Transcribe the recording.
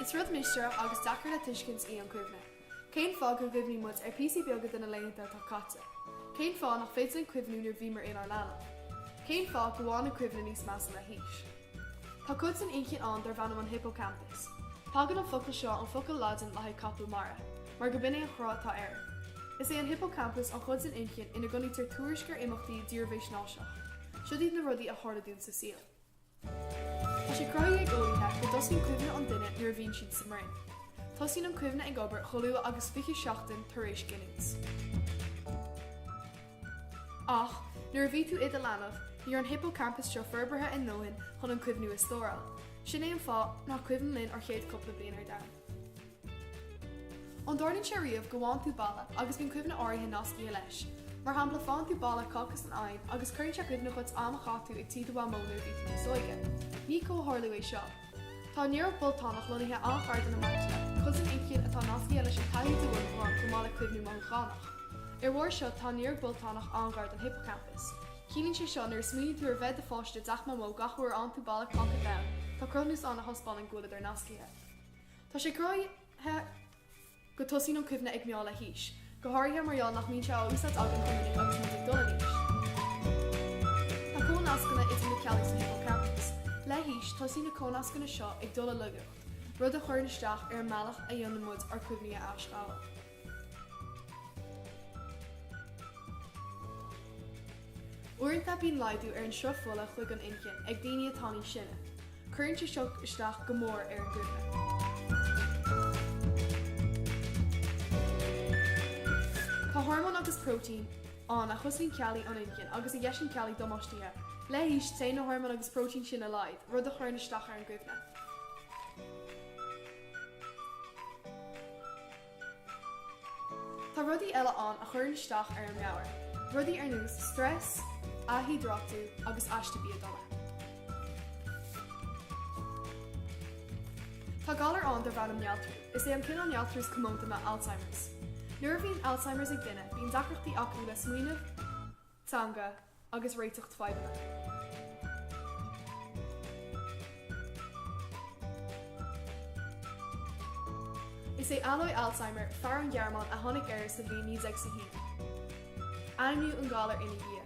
Is rud mistéireach agus deacair le tuiscint í an chuimhne. Cén fáth go gcuimhníonn muid ar píosaí beaga de na laethanta atá caite? Cén fáth nach féidir linn cuimhniú nuair a bhíomar inár leanaí? Cén fáth go bhfaigheann an chuimhne níos measa le haois? Tá cuid den inchinn ann darb ainm an hippocampus. Tagann an focal seo ón focal Laidin le haghaidh capall mara, mar go b'in é an chruth atá air. Is é an hippocampus an chuid den inchinn ina gcoinnítear tuairisc ar imeachtaí dírbheathaisnéiseach. Siod iad na rudaí a tharla dúinn sa saol. Tá sé cruthaithe ag eolaithe go dtosaíonn cuimhne an duine nuair a bhíonn siad sa mbroinn. Tosaíonn an chuimhne ag obair chomh luath agus 20 seachtain tar éis giniúint. Ach, nuair a bhí tú i do leanbh, ní raibh an hippocampus seo forbartha a ndóthain chun na cuimhní a stóráil. Sin é an fáth nach cuimhin linn ár chéad cúpla bliain ar domhan. An dtarlaíonn sé riamh go bhfaigheann tú boladh agus bíonn cuimhne áirithe nascaithe leis? Mar shampla, faigheann tú boladh cáca san oigheann agus cuireann sé i gcuimhne dhuit am a chaith tú ag tigh do Mhamó nuair a bhí tú níos óige. Ní comhtharlú é seo. Tá néaróg boltanach lonnaithe an-ghar don amygdala, cuid den inchinn atá nascaithe leis an taithí de mhothúcháin chomh maith le cuimhní mothúchánach. Ar bharr seo, tá an néaróg boltanach an-ghar don hippocampus. Ciallaíonn sé seo nuair a smaoiníonn tú ar bheith i do pháiste i dteach Mamó gach uair a fhaigheann tú boladh cáca donn, tá cruthúnas ann a thaispeánann go bhfuileadar nascaithe. Tá sé cruthaithe go dtosaíonn an chuimhne ag meath le haois, go háirithe mar gheall nach mbíonn sé á úsáid againn chomh minic agus muid ag dul in aois. Tá comhnascanna idir na ceallaí sa hippocampus. Le haois, tosaíonn na comhnascanna seo ag dul i laigeacht, rud a chuireann isteach ar an mbealach a dhéanann muid ár gcuimhní a aisghabháil. Uaireanta bíonn laghdú ar an sruth fola chuig an inchinn ag daoine atá níos sine. Cuireann sé seo isteach go mór ar an gcuimhne. Tá hormóin agus próitéin ann a chosaíonn ceallaí an inchinn agus a dheiseann ceallaí damáistithe. Le haois, téann na hormóin agus próitéin sin i laghad, rud a chuireann isteach ar an gcuimhne. Tá rudaí eile ann a chuireann isteach ar an meabhair, rudaí ar nós stress, ath-hiodráitiú agus aiste bia dona. Tá galar ann darb ainm néaltrú. Is é an cineál néaltrú is comónta ná Alzheimer's. Nuair a bhíonn Alzheimer's ag duine, bíonn deacrachtaí acu le smaoineamh, teanga, agus réiteacht fadhbanna. Is é Alois Alzheimer, fear ón Ghearmáin a tháinig air sa bhliain 1901. Ainmníodh an galar ina dhiaidh.